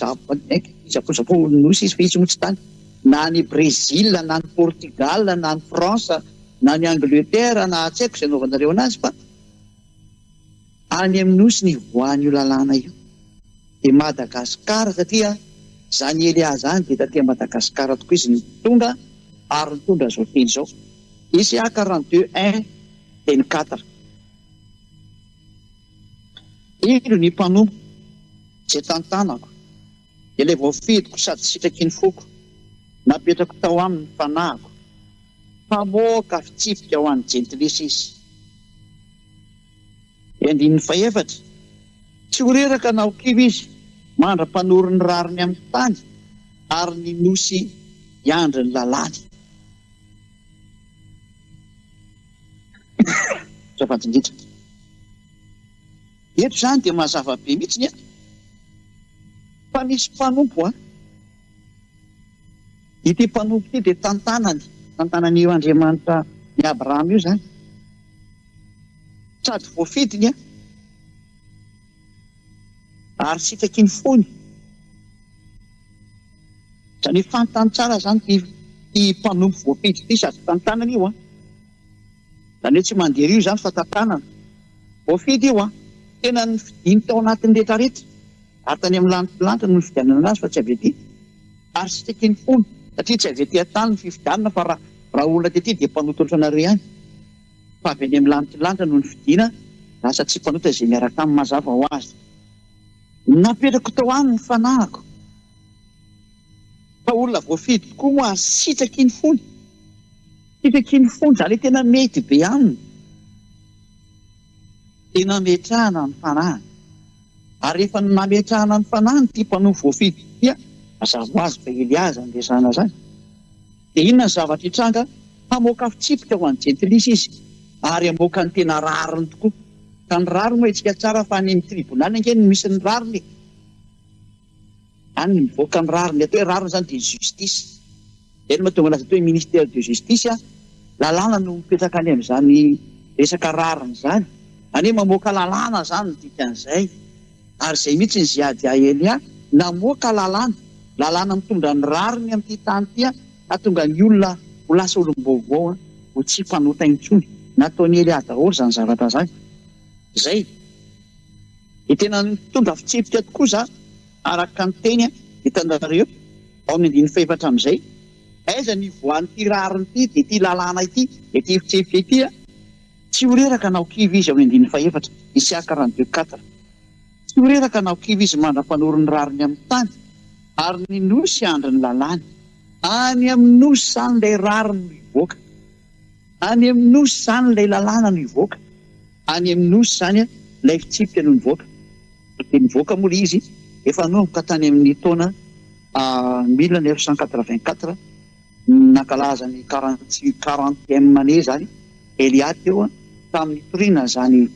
Japon nosy izy fa izy moa tsy tany na any Brezila na any Portugala na any France na any Angleterre na tsy haiko izay anaovanareo anazy fa any amin'ny nosy nivoahan'io lalàna io dia Madagascar satria izany Elia izany dia taty Madagascar tokoa izy no tonga ary nitondra izao teny izao ECA quarante-deux un Teny Qatar. Indro ny mpanompo izay tantanako, ilay voafidiko sady sitraky ny foko, napetrako tao aminy ny fanahiko, mpamoaka fitsipika ho an'ny jentilisa izy. Ny andininy fahefatra. Tsy ho reraka na ho kivy izy mandra-panory ny rariny amin'ny tany, ary ny nosy hiandry ny lalàny. Fitiavana indrindra. Eto izany dia mazava be mihitsy ny fa misy mpanompo an! Ity mpanompo ity dia tantanany, tantanan'io Andriamanitra ny Abrahama io izany. Sady voafidiny an! Ary sitaky ny fony. Izany hoe fantany tsara izany ity ity mpanompo voafidy ity sady tantanana io an! Izany hoe tsy mandery io izany fa tantanana. Voafidy io an! Tena nofidiny tao anatin'ny rehetrarehetra ary tany amin'ny lanitry ny lanitra no nifidianana azy fa tsy avy aty. Ary sitaky ny fony satria tsy avy aty an-tany ny fifidianana fa raha raha olona tety dia mpanotolotra anareo ihany. Fa avy any amin'ny lanitra lanitra no nifidina, lasa tsy mpanota izay miaraka aminy. Mazava ho azy, napetrako tao aminy ny fanahiko. Fa olona voafidy tokoa moa ary sitraky ny fony, sitraky ny fony, izany hoe tena mety be aminy, dia nametrahana ny fanahiny. Ary rehefa nametrahana ny fanahiny ity mpanoa voafidy ity, mazava ho azy fa Eliaza no resahana izany. Dia inona ny zavatra hitranga? Hamoaka fitsipika ho an'ny jentilisa izy, ary hamoaka ny tena rariny tokoa. Ka ny rariny moa hetsika tsara fa any amin'ny tribonaly ange no misy ny rariny e! Any no mivoaka ny rariny. Ny atao hoe rariny izany dia justice. Izay no mahatonga anazy atao hoe ministère de justice an! Lalàna no mipetraka any amin'izany resaka rariny izany. Izany hoe mamoaka lalàna izany no dikan'izay. Ary izay mihitsy i Ziad Yahya Elia namoaka lalàna, lalàna mitondra ny rariny amin'ity tany ity hahatonga ny olona ho lasa olom-baovao, ho tsy mpanota intsony. Nataon'i Elia daholo izany zavatra izany. Izay. Dia tena nitondra fitsipika tokoa izany, araka ny teny, hitanareo, ao amin'ny andininy fahefatra amin'izay. Aiza ny ivoahan'ity rariny ity, dia ity lalàna ity, dia ity fitsipika ity? Tsy ho reraka na ho kivy izy ao Indiny fahefatra, Isiaka Randieu quatre. Tsy ho reraka na ho kivy izy mandra-panory ny rariny amin'ny tany, ary ny nosy handry ny lalàny. Any amin'ny nosy izany ilay rariny no hivoaka, any amin'ny nosy izany ilay lalàna no hivoaka, any amin'ny nosy izany ilay fitsipika no nivoaka. Dia nivoaka moa ilay izy efa nanomboka tany amin'ny taona mille neuf cent quatre-vingt-quatre. nankalaza ny quarantième année zany Elia teo tamin'ny nitoriana an'izany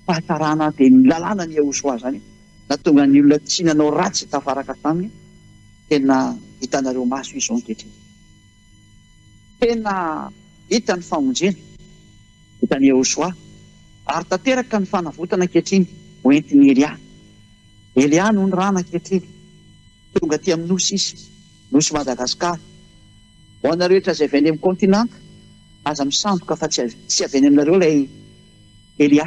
fahatarana dia ny lalàna ny Yahoshuah zany nahatonga ny olona tsy nanao ratsy tafaraka taminy tena hitanareo maso izao ankehitriny tena hita ny famonjena vitan'i Yahoshuah ary tanteraka ny fanavotana ankehitriny hoentin'i Elia Elia no nirana ankehitriny tonga aty amin'ny nosy izy Nosy Madagasikara. Ho anareo rehetra izay avy any amin'ny kaontinanta, aza misandoka fa tsy tsy avy any aminareo ilay Elia.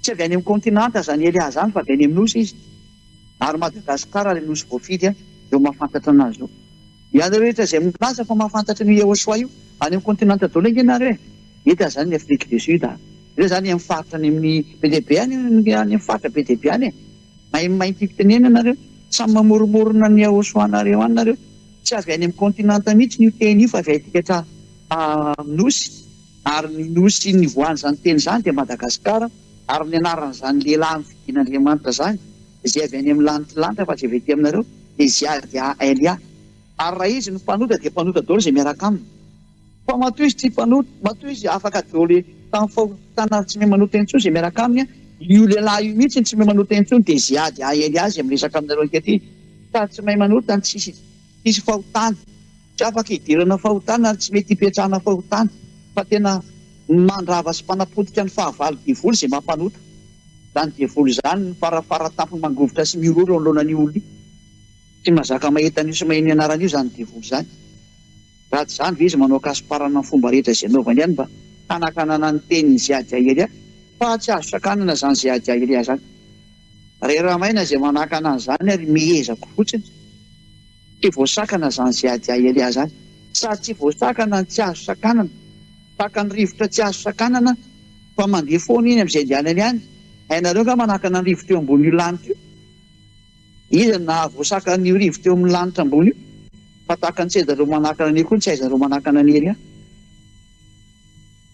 Tsy avy any amin'ny kaontinanta izany Elia izany fa avy any amin'ny Nosy izy. Ary Madagasikara ilay Nosy voafidy izao mahafantatra anazy izao. Ianareo rehetra izay milaza fa mahafantatra an'io Yehosua io, any amin'ny kaontinanta daholo ange ianareo e! Eto aza any ny Afrique du Sud a! Ireo izany any amin'ny faritra any amin'ny be dia be any, any amin'ny faritra be dia be any e! Mahay mimainty fitenena nareo. Samy mamoromorona ny ahosoanareo any nareo. Tsy avy any amin'ny continent mihitsy io teny io fa avy aty ka nosy. Ary ny nosy nivoahan'izany teny izany dia Madagascar ary ny anaran'izany lehilahy nofidian'Andriamanitra izany izay avy any amin'ny lanitry lanitra fa tsy avy aty aminareo dia Ziadia Alia. Ary raha izy no mpanota dia mpanota daholo izay miaraka aminy. Fa matoa izy tsy mpanota, matoa izy afaka dôle tamin'ny fahotana ary tsy miha manota intsony izay miaraka aminy, io lehilahy io mihitsy no tsy miha manota intsony dia izay ady haely azy miresaka aminareo ankehitriny fa tsy mahay manota, tsisy tsisy fahotana, tsy afaka idirana fahotana ary tsy mety ipetrahana fahotana fa tena mandrava sy mpanapotika ny fahavalo devoly izay maha mpanota izany devoly izany ny fara fara tampony mangovitra sy miroro eo anoloanan'io olona io tsy mazaka mahita an'io sy maheno ny anarany io izany devoly izany. Raha tsy izany ve izy manao kasoparana amin'ny fomba rehetra izay anaovany ihany mba hanakanana ny tenin'i Ziadiahiria fa tsy azo sakanana izany Ziadiahiria izany. Ray Ramaina izay manakana an'izany ary mihezako fotsiny. Tsy voasakana izany Ziadiahiria izany. Sady tsy voasakana no tsy azo sakanana. Tahaka ny rivotra tsy azo sakanana fa mandeha foana iny amin'izay andehanany any. Hainareo angaha manakana ny rivotra eo ambonin'io lanitra io? Iza no nahavoasaka an'io rivo teo amin'ny lanitra ambony io? Fa tahaka ny sedan'ireo manakana an'io koa ny saizan'ireo manakana an'i Elia.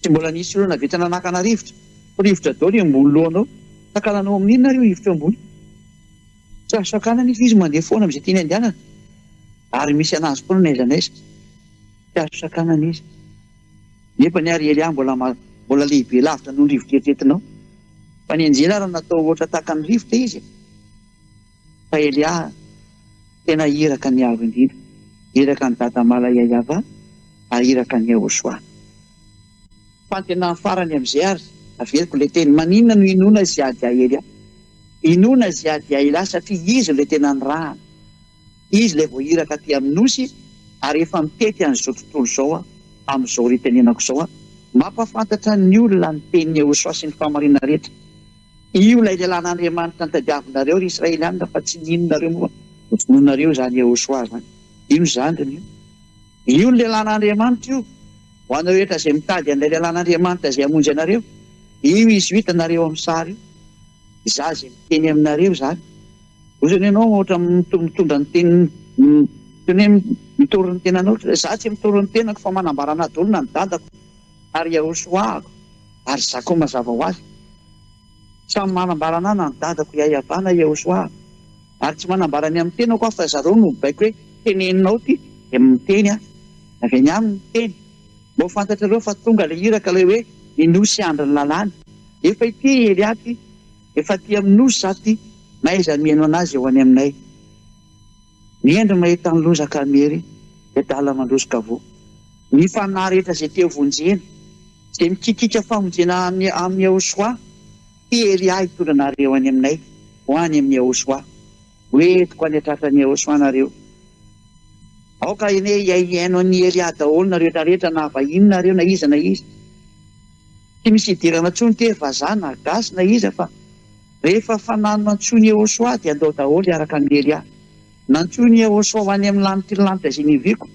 Tsy mbola nisy olona nahavita nanakana rivotra, fa rivotra daholo eo ambony lohanao. Takalanao amin'inona ary io rivotra eo ambony? Tsy azo sakana anefa izy mandeha foana amin'izay tiany andehanana, ary misy an'azy foana na aiza na aiza. Tsy azo sakanana izy. Nefa ny ahy ry Eliah mbola mbola lehibe lavitra noho ny rivotra eritreretinao. Fa ny anjely ary natao ohatra tahaka ny rivotra izy e! Fa Eliah tena iraka an'i Yaveh indrindra, iraka an'i Dada Malaya Yavah ary iraka an'i Yehoshua. Fantenany farany amin'izay ary averiko ilay teny, maninona no inoana i Ziad Yael? Inoana i Ziad Yael ahy satria izy no ilay tena nirahana. Izy ilay vao iraka aty amin'ny Nosy ary efa mitety an'izao tontolo izao amin'izao ritenenako izao. Mampahafantatra ny olona ny tenin'i Yehosua sy ny fahamariana rehetra. Io ilay lehilahin'Andriamanitra nitadiavinareo ry Israelianina fa tsy nininonareo moa vonoinareo izany Yehosua izany. Io ny zandriny io. Io ny lehilahin'Andriamanitra io. Ho anareo rehetra izay mitady an'ilay lehilahin'Andriamanitra izay hamonjy anareo, io izy io hitanareo amin'ny sary io. Izaho izay miteny aminareo izany. Ozy anie ianao ohatra mitondra ny teniny toy ny hoe mitory ny tenanao ohatry ny hoe izaho tsy mitory ny tenako fa manambara an'ady olona ny dadako ary iahosoahako ary zakao mazava ho azy samy manambara an'ahy na ny dadako iaiavana ahy iahosoahako ary tsy manambara ny amin'ny tenako aho fa zareo no mibaiko hoe teneninao ity dia miteny aho avy any aminy ny teny mba ho fantatrareo fa tonga ilay iraka ilay hoe ny nosy andrin'ny lalàna efa ity Elia ity Efa aty amin'ny Nosy za ty, na aiza mihaino anazy eo any aminay. Mihendry mahita an'i Loza ka Miery dia adala mandroso ka voa. Ny fanahy rehetra izay te vonjena, izay mikikiaka famonjena any amin'i Yahoshuah, ty ery ahy hitondra anareo any aminay, ho any amin'i Yahoshuah. Hoentiko any an-tratran'i Yahoshuah nareo. Aoka anie hiaihiaino an'i Ery ahy daholo nareo retraretra na vahiny nareo na iza na iza. Tsy misy hidirana intsony tery vazaha na gasy na iza fa rehefa fanano antsoiny Ehosoa dia andao daholo hiaraka hamely ahy. Nantsoiny Ehosoa ho any amin'ny lanitry ny lanitra izay niviako.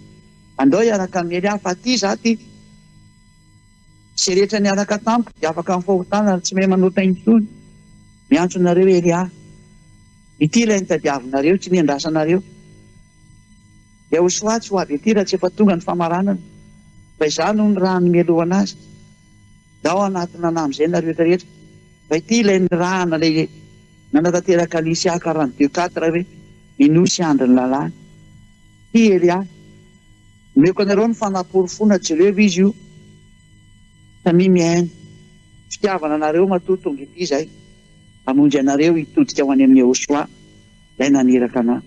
Andao hiaraka hamely ahy fa aty izaho aty. Izay rehetra niaraka tamiko dia afaka amin'ny fahotana ary tsy mahay manota intsony. Miantso anareo ery aho. Ity ilay nitadiavinareo, tsy nendrasanareo. Dia ho soatsy ho avy ety raha tsy efa tonga ny famaranana, fa izaho no ny raha nimelohana azy. Dia ao anatin'ny anahy amin'izay nareo eto rehetra. Fa ity ilay nirahana ilay nanatanteraka an'i Isiaka quarante deux quatre hoe, Ny nosy andry ny lalàna. Ity Elia. Omeko anareo ny fanaporofoana jereo izy io samia mihaino. Fitiavana anareo matoa tonga ety izay hamonjy anareo hitodika ho any amin'i Yehosoa ilay naniraka anà.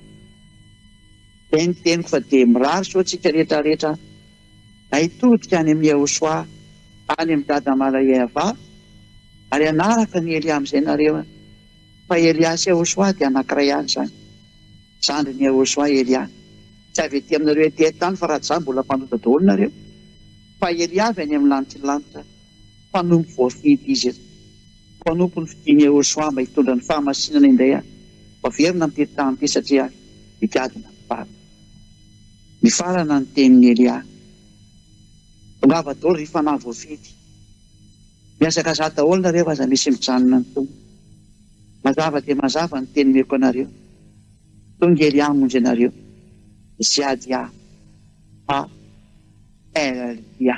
Izay ny teniko fa dia mirary soa antsika rehetra rehetra an! Na hitodika any amin'i Yehosoa, any amin'i Dada Malayeva, ary hanaraka an'i Elia amin'izay nareo an! Fa Elia sy Yehosoa dia anankiray ihany izany. Zandrin'i Yehosoa i Elia. Tsy avy ety aminareo ety an-tany fa raha tsy izany mbola mpanota daholo nareo. Fa Elia avy any amin'ny lanitry ny lanitra. Mpanompo voafidy izy. Mpanompo ny fidiny Yehoshua mba hitondra ny fahamasinana indray ary ho averina am-piry tahan'ity satria ary higadona ny farany. Nifarana ny tenin'i Elia. Tongava daholo ry fanahy voafidy. Mihazakazaha daholo nareo aza misy mijanona ny Tompo. Mazava dia mazava ny teny omeko anareo. Tonga Elia hamonjy anareo. Ziadia. Haleloia.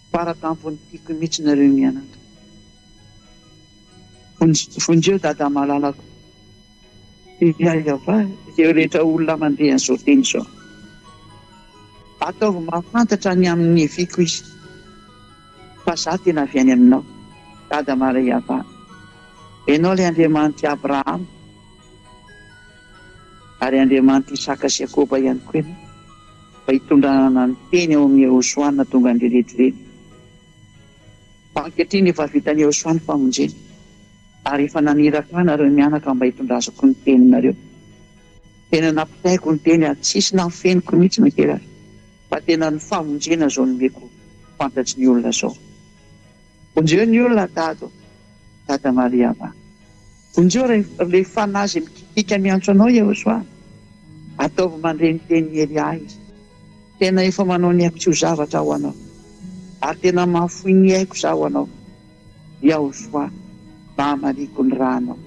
Fara tampon'ny tiako mitsy nareo mianaka. Vonjeo dada malalako. Hiaiava izay rehetra olona mandeha an'izao teny izao. Ataovy mahafantatra ny amin'ny neviko izy fa za tena avy any aminao. Dada maraiava. Ianao ilay Andriamanitr'i Abrahama ary Andriamanitr'i Isaka sy Iakoba ihany koa ianao. Mba hitondranana ny teny ao amin'i Yehosua nahatonga an'ireneto ireny. Fa ankehitriny efa vitan'i Yehosua ny famonjena, ary efa naniraka ahy nareo mianaka mba hitondrazako ny teninareo. Tena nampitaiko ny teny ary tsisy nahafeniko mihitsy na kely aza, fa tena ny famonjena zao nomeko fantatry ny olona zao. Vonjeo ny olona Dado, Dada Mariama. Vonjeo ilay fanahy izay mikitika miantso anao Yehoswa. Ataovy mandre ny tenin'i Elia izy. Tena efa manao ny aiko tsy ho zavatra ho anao ary tena mahafoy ny aiko za ho anao Yahoswa mba hamaliako ny ra anao.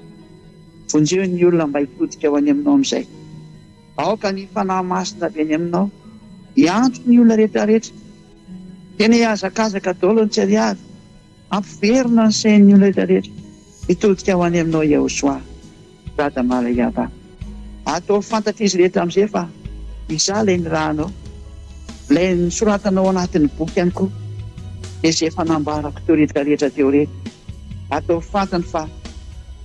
Vonjeo ny olona mba hitodika ho any aminao amin'izay. Aoka ny Fanahy Masina avy any Aminao hiantso ny olona rehetrarehetra. Tena hihazakazaka daholo ny tsy ariary, hampiverina ny sain'ny olona rehetrarehetra hitodika ho any Aminao Yehosua, Dada Marayava. Ataovy fantatr'izy rehetra amin'izay fa Izaho ilay nirahanao, ilay nosoratanao ao anatin'ny boky ihany koa, dia izay efa nambarako teo rehetrarehetra teo ireny. Atao fantany fa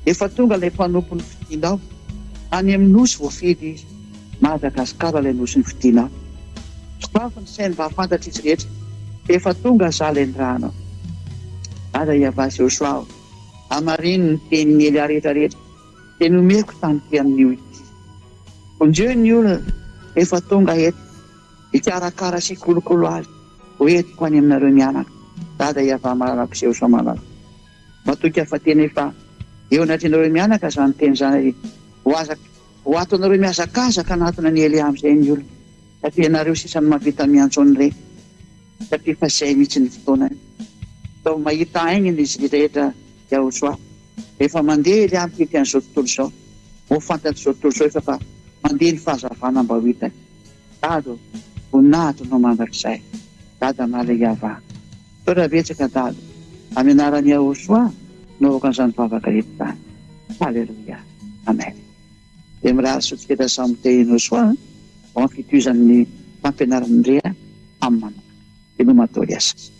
efa tonga ilay mpanompo nofidinao, any amin'ny nosy voafidy izy, Madagasikara ilay nosy nofidinao. Sokafy ny sainy mba hahafantatr'izy rehetra fa efa tonga izaho ilay nirahanao. Aza hiavà Joshua o! Hamarino ny tenin'i Elia rehetra rehetra dia nomeko tamin'ity amin'io ity. Vonjeo ny olona efa tonga eto. Hikarakara sy hikolokolo azy ho entiko any aminareo mianaka, Dada i Avamalapo sy Eosamalapo. Matoky aho fa tena efa eo anatrehanareo mianaka izany teny izany ary ho aza ho ato anareo mihazakazaka hanatona an'i Elia amin'izay ny olona, satria ianareo sisa no mahavita miantso an'ireny, satria efa izay mihitsy ny fotoanany. Izao mahita haingana izy rehetra Yahosoa. Rehefa mandeha Elia mikiky an'izao tontolo izao, ho fantatr'izao tontolo izao efa fa mandeha ny fahazavana mba ho hitany. Dada ô! Voninahitra anao mandrakizay, Dada Male Yavah. Misaotra betsaka Dada, amin'ny anaran'i Yahoshuah no avoaka an'izany vavaka eto izany. Haleloia. Amen. Dia mirary soa tsiketra samy te hinosoa ho amin'ny fitohizan'ny fampianaran'i Ndria amin'ny manokana. Veloma atao iasa.